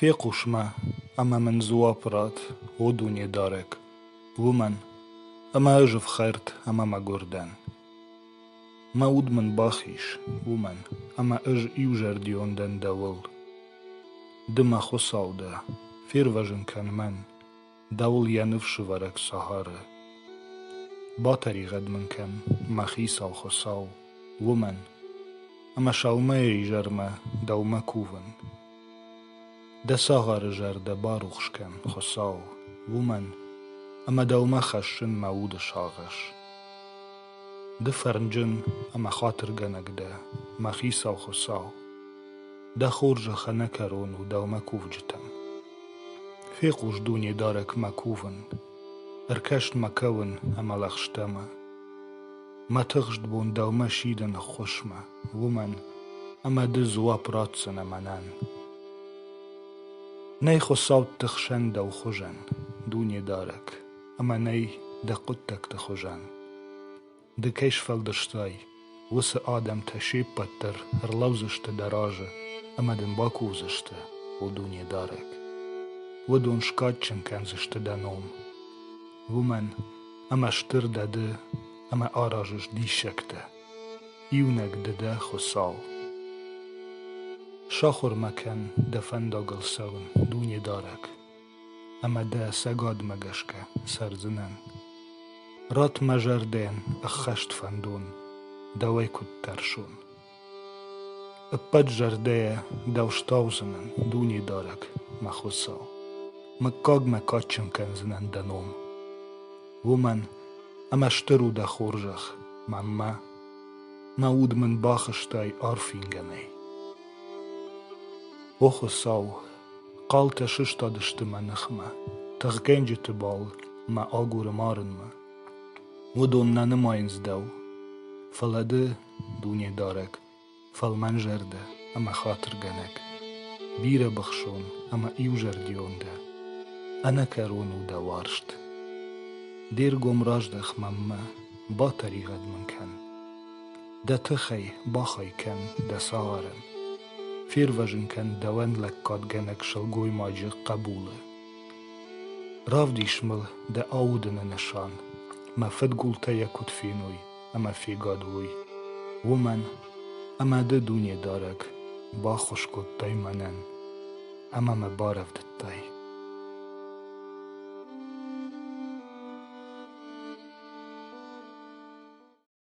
Фехъус ма, ӕмӕ мын дзуапп ратт, о Дунедарӕг, уымӕн, ӕмӕ ӕз ӕфхӕрд ӕмӕ мӕгуыр дӕн. Мӕ уд мын бахиз, уымӕн, ӕмӕ ӕз иузӕрдион дӕн дӕуыл. Ды, мӕ Хуыцау дӕ, фервӕзын кӕн мӕн. Дӕуыл йӕ ныфсывӕрӕг Сахары. Батӕригъӕд мын кӕн, мӕ хицау Хуыцау, уымӕн, ӕмӕ сӕумӕйы изӕрмӕ дӕумӕ кувын. Дӕ цагъары зӕрдӕ барухс кӕн, Хуыцау, уымӕн, ӕмӕ дӕумӕ хӕссын мӕ уды сагъӕс. Ды фӕрнджын ӕмӕ хатыргӕнӕг дӕ, мӕ хицау Хуыцау, дӕ хорзӕх ӕнӕкӕрон у дӕумӕ кувджытӕм. Фехъус, Дунедарӕг, мӕ кувын, ӕркӕс мӕ кӕуын ӕмӕ лӕгъстӕмӕ. Мӕ тыхст бон дӕумӕ сидын ӕххуысмӕ, уымӕн ӕмӕ ды дзуапп ратдзынӕ мӕнӕн. Нӕй Хуыцӕутты хсӕн дӕу хуызӕн, Дунедарӕг. ӕмӕ нӕй дӕ хъуыддӕгты хуызӕн. Ды кӕй сфӕлдыстай, уыцы адӕмтӕ се ппӕт дӕр ӕрлӕудзысты дӕ разы ӕмӕ дын бакувдзысты у Дунедарӕг. Уыдон скадджын кӕндзысты дӕ ном. Уымӕн ӕмӕ стыр дӕ ды ӕмӕ аразыс диссӕгтӕ. Иунӕг ды дӕ, Хуыцау. Сахуыр ма кӕн дӕ фӕндагыл цӕуын, Дунедарӕг, ӕмӕ дӕ цӕгатмӕ гӕсгӕ цӕрдзынӕн. Ратт мӕ зӕрдӕйӕн ӕххӕст фӕндон, дӕуӕй куыд тӕрсон. Ӕппӕт зӕрдӕйӕ дӕу стаудзынӕн, дунедарӕг, мӕ Хуыцау. Мыггаг мӕ кадджын кӕндзынӕн дӕ ном. Уымӕн ӕмӕ стыр у дӕ хорзӕх, маммӕ. Мӕ уд мын бахызтай арф ингӕнӕй. О Хуыцау, Хъалтӕ сыстадысты мӕ ныхмӕ, тыхгӕнджыты бал мӕ агуры марынмӕ. Уыдон нӕ нымайынц дӕу, фӕлӕ ды дунедарӕг, фӕлмӕн зӕрдӕ ӕмӕ хатыргӕнӕг, бирӕбыхсон ӕмӕ иузӕрдион дӕ. Ӕнӕкӕрон у дӕ уарзт. Де ргом раздӕх мӕнмӕ, батӕригъӕд мын кӕн. Дӕ тыхӕй бахай кӕн дӕ цагъарӕн, Фервӕзын кӕн дӕуӕн лӕггадгӕнӕг сылгоймаджы хъӕбулы. Равдис мыл дӕ аудыны нысан, мӕ фыдгултӕ йӕ куыд феной ӕмӕ фегад уой, уымӕн, ӕмӕ ды, Дунедарӕг, баххуыс кодтай мӕнӕн ӕмӕ мӕ барӕвдыдтай.